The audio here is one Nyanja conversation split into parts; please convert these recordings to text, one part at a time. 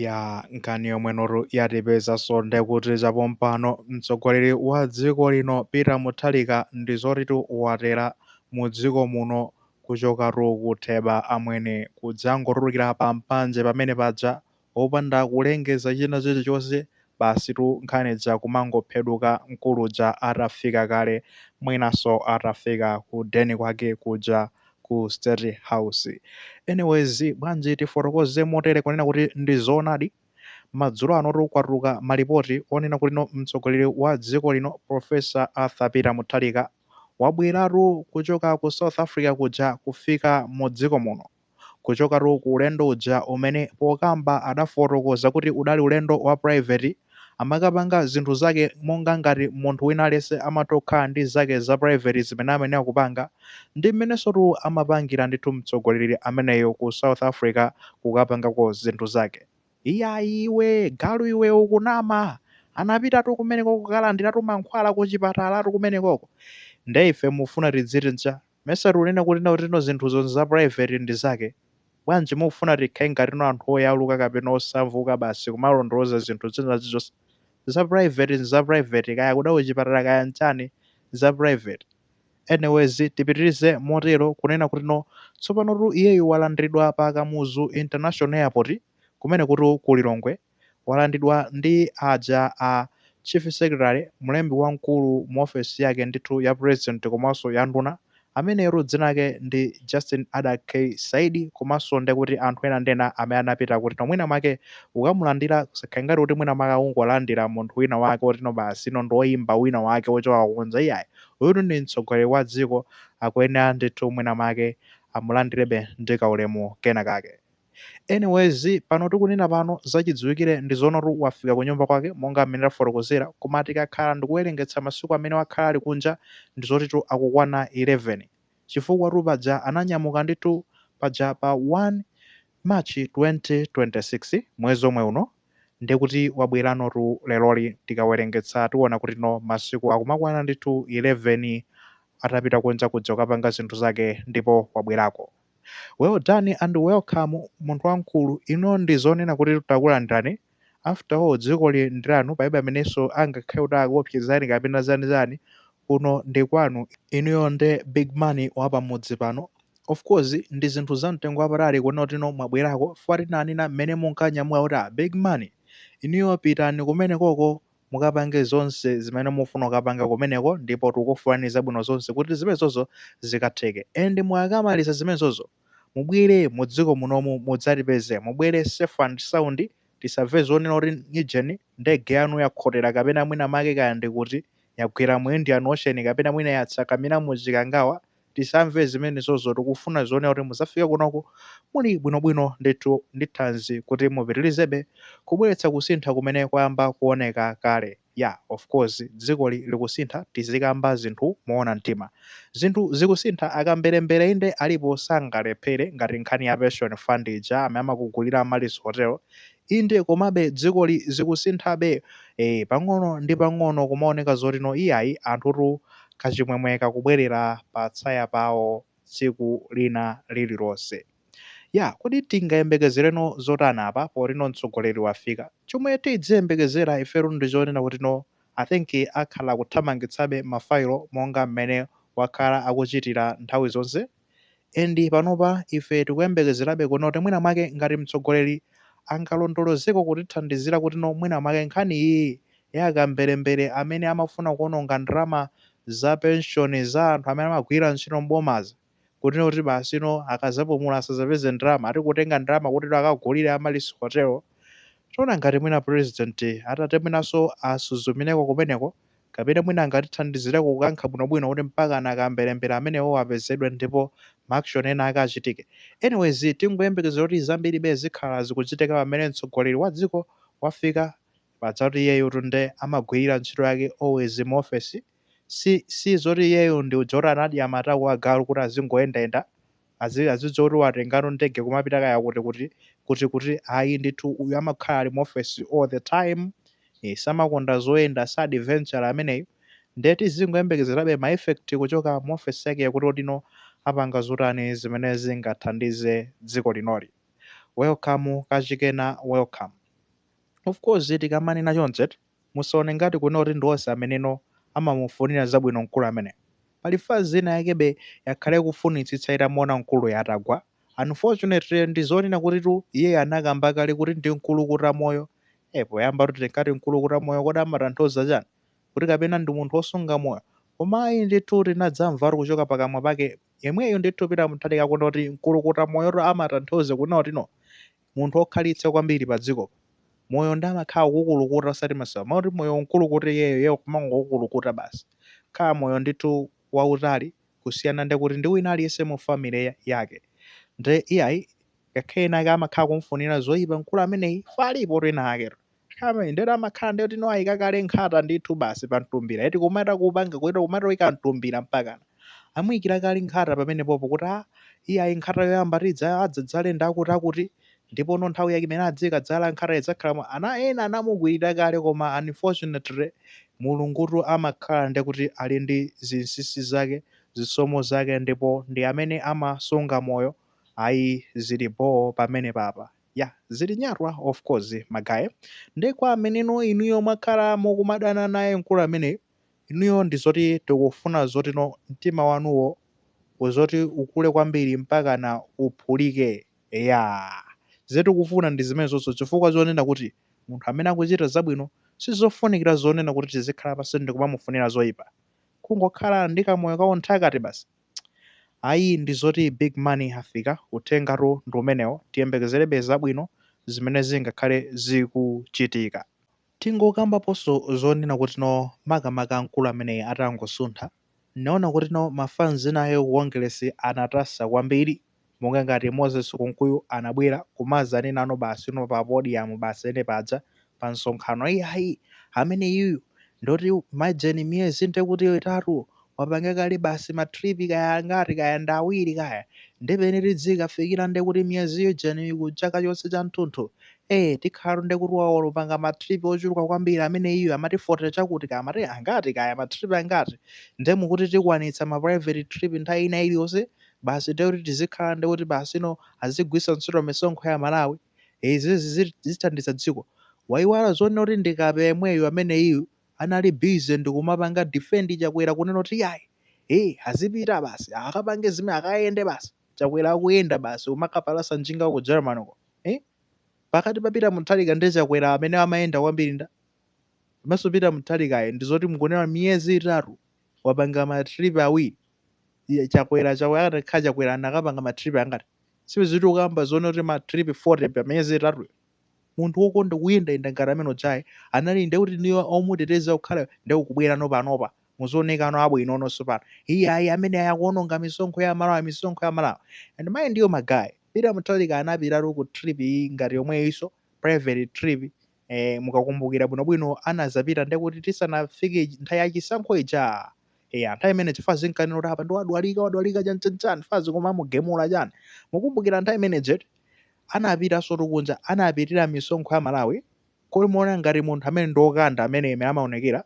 Yaa nkhani yomwenotu yatipeza so ndekuti chapompano mtsogoleri wa dziko lino Peter Mutharika ndizotitu watera mudziko muno kuchokatu ku Theba amwene kudzangotulukira pa mpanje pamene paja opanda kulengeza china chilichonse Basitu nkhani ija kumangopheduka mkulu uja atafika kale mwinanso atafika ku den kwake kuja ku state house. Anyways bwanji tifotokoze motere kunena kuti ndi zoonadi madzulo anotu kwatuluka malipoti onena kuti no mtsogoleri wa dziko lino Prof. Arthur Peter Mutharika wabweratu kuchoka ku South Africa kuja kufika mu dziko muno. kuchokatu ku ulendo uja umene pokamba adafotokoza kuti udali ulendo wa private amakapanga zinthu zake monga ngati munthu wina aliyense amatokhala ndi zake za private zimene amayenera kupanga ndi mmenensotu amapangira ndithu mtsogoleri ameneyo ku South Africa kukapangako zinthu zake. Iyayi iwe galu iwe ukunama anapitatu kumeneko kukalandiratu mankhwala kuchipatalatu kumenekoko nde ife mufuna tidziti ncha? Mesa tikunena kuti kutino zinthuzo nza private ndi zake? Bwanji mukufuna tikhale ngatino anthu oyaluka kapena osamvuka basi kumalondoloza zinthu zina zilizonse? Za private nza private kaya akuda kuchipatala kaya nchani nza private. Anyways tipitilize motero kunena kuti no tsopanotu iyeyu walandridwa pa Kamuzu International Airport kumenekutu ku Lilongwe. walandidwa ndi aja a Chief Secretary, mlembi wamkulu mu ofesi yake ndithu ya President komanso ya nduna, ameneyotu dzina lake ndi Justin Adack Saidi komanso nde kuti anthu ena ndi ena amene anapita kuti no mwina mwake kukamulandira zisakhale ngati kuti mwina mwake akungolandira munthu wina wake otino basino ndi oyimba wina wake ochoka kunja iyayi uyutu ndi mtsogoleri wa dziko akuyenera ndithu mwina mwake amulandirebe ndi kaulemu kena kake. Anyways pano tikunena pano zachidziwikire ndizoonatu wafika kunyumba kwake monga mmene tafotokozera koma tikakhala ndikuwerengetsa masiku amene wakhala ali kunja ndizotitu akukwana 11 chifukwatu paja ananyamuka ndithu paja pa 1 March 2026 mwezi omwe uno ndekuti wabweranotu leroli tikawerengetsa tiona kuti no masiku akumakwana ndithu 11 atapita kunja kuja kukapanga zinthu zake ndipo wabwerako. Well done and welcome munthu wamkulu, inuyo ndi zonena kuti takulandirani, after all dzikoli ndi lanu palibe amenenso angakhale kuti akuopsezani kapena zani zani, kuno ndi kwanu, inuyo nde big money wa pamudzi pano, of course ndi zinthu za mtengo wapatali kuona kutino mwabwerako chifukwa tinanena mmene munkanyamuka kuti ah big money inuyo pitani kumenekoko mukapange zonse zimene mufuna kukapanga kumeneko ndipo tikukufunilani zabwino zonse kuti zimenezozo zikatheke and mukakamaliza zimenezozo mubwele mudziko munomu mudzatipeze mubwele safe and sound tisamve zonena kuti ijeni ndege yanu yakhotela kapena mwina make kaya ndikuti yagwela mu indian ocean kapena mwina yatsakamila mu chikangawa tisamve zimenezozo tikufuna zonena kuti muzafike kunoko muli bwinobwino ndithu ndi thanzi kuti mupitilizebe kubweletsa kusintha kumene kwayamba kuoneka kale yeah of course dzikoli likusintha tizikamba zinthu moona mtima zinthu zikusintha akambelembele inde alipo sangalephele ngati nkhani ya pension fund ija amene amakugulila Amaryllis hotel Inde, komabe dzikoli zikusinthabe. Eeh, pang'ono ndi pang'ono kumaoneka zoti no iyayi, anthutu kachimwemwe kakubwelera pa tsaya pawo tsiku lina lililonse. Yah, kodi tingayembekezere no zotani apa poti no mtsogoleri wafika? Chomwe tidziyembekezera ifetu ndi chonena kuti no I think akhala akuthamangitsabe ma file monga mmene wakhala akuchitira nthawi zonse. And panopa ife tikuyembekezerabe kuona kuti mwina mwake ngati mtsogoleri angalondolozeko kutithandizira kuti no mwina mwake nkhani iyiyi ya akamberembere amene amafuna kuononga ndalama za pension za anthu amene amagwira ntchito m'bomazi kuti no kuti basi no akazapumula asazapeze ndalama ati kutenga ndalama kuti no akagulire Amaryllis Hotel. Tiona ngati mwina president atati mwinanso asuzumireko kumeneko Kapena mwina angatithandizireko kukankha bwinobwino kuti mpakana akamberembere amenewowo apezedwe ndipo ma action ena ake achitike. Anyways tingoyembekezera kuti zambiribe zikhala zikuchitika pamene mtsogoleri wa dziko wafika pajatu iyeyutu nde amagwirira ntchito yake always mu office si zoti iyeyu ndi uja oti anadya matako agalu kuti azingoyendayenda azi azidziwa kuti watengano ndege kumapita kaya kuti kuti kuti kuti ayi ndithu uyu amakhala ali mu office all the time eh, samakonda zoyenda sa adventure ameneyu ndiye tizingoyembekezerabe ma effect kuchoka mu office yake yakuti kodi no apanga zotani zimene zingathandize dziko linoli welcome kachikena welcome of course tikamanena chonchi Musaone ngati kunena kuti ndi onse ameneno amamufunira zabwino mkulu ameneyo. Pali fans ina yakebe yakhala ikufunitsitsa itamuona mkuluyo atagwa, unfortunately ndi zonena kutitu iyeyo anakamba kale kuti ndi mkulukutamoyo, eh poyambatu tinkati mkulukutamoyo kodi amatanthauza chani? Kuti kapena ndi munthu osunga moyo? Koma ayi ndithu tinadzamvatu kuchoka pakamwa pake yemweyu ndithu Peter Mutharika kunena kuti mkulukutamoyotu amatanthauza kunena kuti no munthu okhalitsa kwambiri pa dziko pa moyo ndi amakhala kukulukuta osati masewera moti moyo unkulukuta iyeyo iye kumangokulukuta basi akhala moyo ndithu wautali kusiyana ndi kuti ndi wina aliyense mu family yake nde iyayi ngakhale ena ake amakhala kumfunira zoipa mkulu ameneyi palipotu ena aketu Amen ndiyoti amakhala ndiyoti no ayika kale nkhata ndithu basi pa mtumbira eti kumata kupanga kuita kumata kuyika mtumbira mpakana amuyikira kale nkhata pamene popo kuti a iyayi nkhata yoyamba tidza adzadzale ndi akuti akuti ndipo no nthawi yake imene adzikadzala nkhata idzakhala mwa ana ena anamukwirira kale koma unfortunately mulungutu amakhala ndi kuti ali ndi zinsinsi zake zisomo zake ndipo ndi amene amasunga moyo ayi zili boo pamene papa yah zili nyatwa of course ma guys nde kwa ameneno inuyo mwakhala mukumadana naye mkulu ameneyu inuyo ndizoti tikufuna zotino mtima wanuwo uzoti ukule kwambiri mpakana uphulike eyaa zimene tikufuna ndi zimenezonso chifukwa zonena kuti munthu amene akuchita zabwino sizofunikira zonena kuti tizikhala pansi ndikumamufunira zoipa kungokhala ndi kamoyo ka unthakati basi Ayi ndi zoti big money afika uthengatu ndi umenewo tiyembekezerebe zabwino zimene zingakhale zikuchitika. Tingokambaponso zonena kutino makamaka mkulu ameneyi atangosuntha, ndinaona kutino ma fans nawo ku Kongeresi anatasa kwambiri. monga ngati Moses Kunkuyu anabwera kumazanenano basi no pa podium basi ene paja pa msonkhano iyayi ameneyuyu ndoti imagine miyezi nde kuti itatu wapanga kale basi ma trip kaya angati kaya ndi awiri kaya nde pene tidzikafikira nde kuti miyezi ujeni ku chaka chonse cha mtunthu eh tikhalatu nde kuti wapanga ma trip ochuluka kwambiri ameneyuyu amati 40 chakuti kaya amati angati kaya ma trip angati nde mukuti tikwanitsa ma private trip nthawi ina iliyonse basi ndiye kuti tizikhala ndiye kuti basi no azigwiritsa ntchito misonkho ya Malawi izizi zithandiza dziko waiwala zonena kuti ndi kape yemweyu ameneyiyu anali busy ndikumapanga defend Chakwera kunena kuti yayi ee azipita basi akapange zimene akayende basi Chakwera akuyenda basi kumakapalasa njinga ku Germany uko eh pakati pa Peter Mutharika ndi Chakwera amene amayenda kwambiri ndani komanso Peter Mutharikayo ndi zoti mukunena miyezi itatu wapanga ma trip awiri iye chakwera chakwera akadakhala chakwera anakapanga ma trip angati sibwezi tikukamba zonena kuti ma trip 40 pa miyezi itatu munthu wokonda kuyendayenda ngati amene ujayi anali nde kuti inuyo omuteteza kukhala nde ukubwerano panopa muzioneka no abwinononso pano iye ayi ameneyu akuononga misonkho ya malawi misonkho ya malawi and mind you magayi peter mutharika anapitatu ku trip iyi ngati yomweyinso private trip e, mukakumbukira bwinobwino anazapita nde kuti tisanafike ij- nthawi ya chisankho ija eya nthawi imene ija Fazi ankanena kuti apa ndi wadwalika wadwalika chani chani chani fazi koma amugemula chani mukumbukira nthawi imene ija anapitansotu kunja anapitira misonkho ya malawi kodi muona ngati munthu amene ndi okanda amene ime amaonekera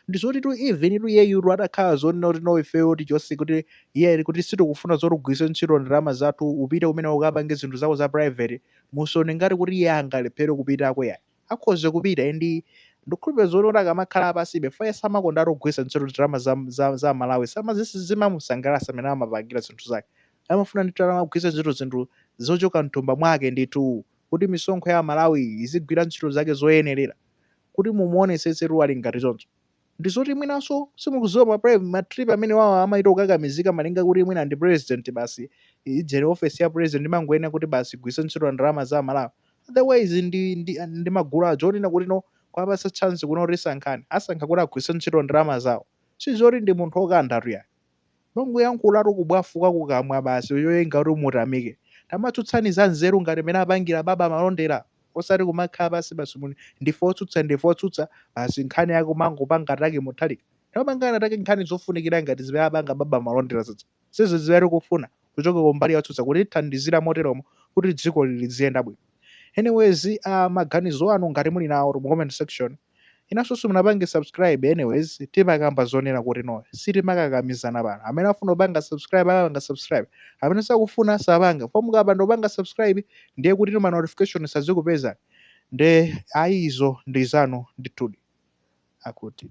ndizotitu even tu iyeyutu atakhala zonena kuti no ifeyo tichonse kuti iye kuti sitikufuna zoti ugwiritse ntchito ndalama zathu upite kumeneko ukapange zinthu zako za private musone ngati kuti iye angalephere kupitako yayi akhoza kupita and ndikukhulupirira zoti kuti akamakhala apansi before iye samakonda atogwiritsa ntchito ndalama za za za amalawi samazi sizimamusangalatsa mmene amapangira zinthu zake amafuna ndithu atamagwiritsa ntchito zinthu zochoka mthumba mwake ndithu kuti misonkho ya amalawi izigwira ntchito zake zoyenerera kuti mumuonetsetse tu ali ngati choncho ndizoti mwinanso simukuziwa ma pre ma trip amenewawa amaita kukakamizika malinga kuti mwina ndi president basi ijeni office ya president imangoyenera kuti basi igwiritse ntchito ndalama za amalawi otherwise ndi ndi ndi magulu aja onena kuti no kuwapatsa chance kuno kuti sankhani asankha kuti agwiritse ntchito ndalama zawo sizoti ndi munthu okandatu yayi Mongoyankhula tu kubwafuka kukamwa basi choyenga kuti mutamike. Tamatsutsani za nzeru ngati mmene apangira Baba Malondera osati kumakhala pansi basi kuti ndife otsutsa ndife otsutsa basi nkhani yake kumangopanga attack Mutharika. Tamapangani attack nkhani zofunikira ngati zimene apanga Baba Malondera zija. Ndi zija zimene tikufuna kuchoka kumbali ya otsutsa kutithandizira moteromo kuti dzikoli liziyenda bwino. Anyways, aah maganizo anu ngati muli nawo mu comment section. inunso simunapange subscribe anyways timakamba zonena kuti no sitimakakamizana pano amene afuna kupanga subscribe akapanga subscribe amene sakufuna sapanga ndipo mukapanda kupanga subscribe ndiye kuti ma notification sazikupezani nde ayi izo ndi zanu ndithudi akuti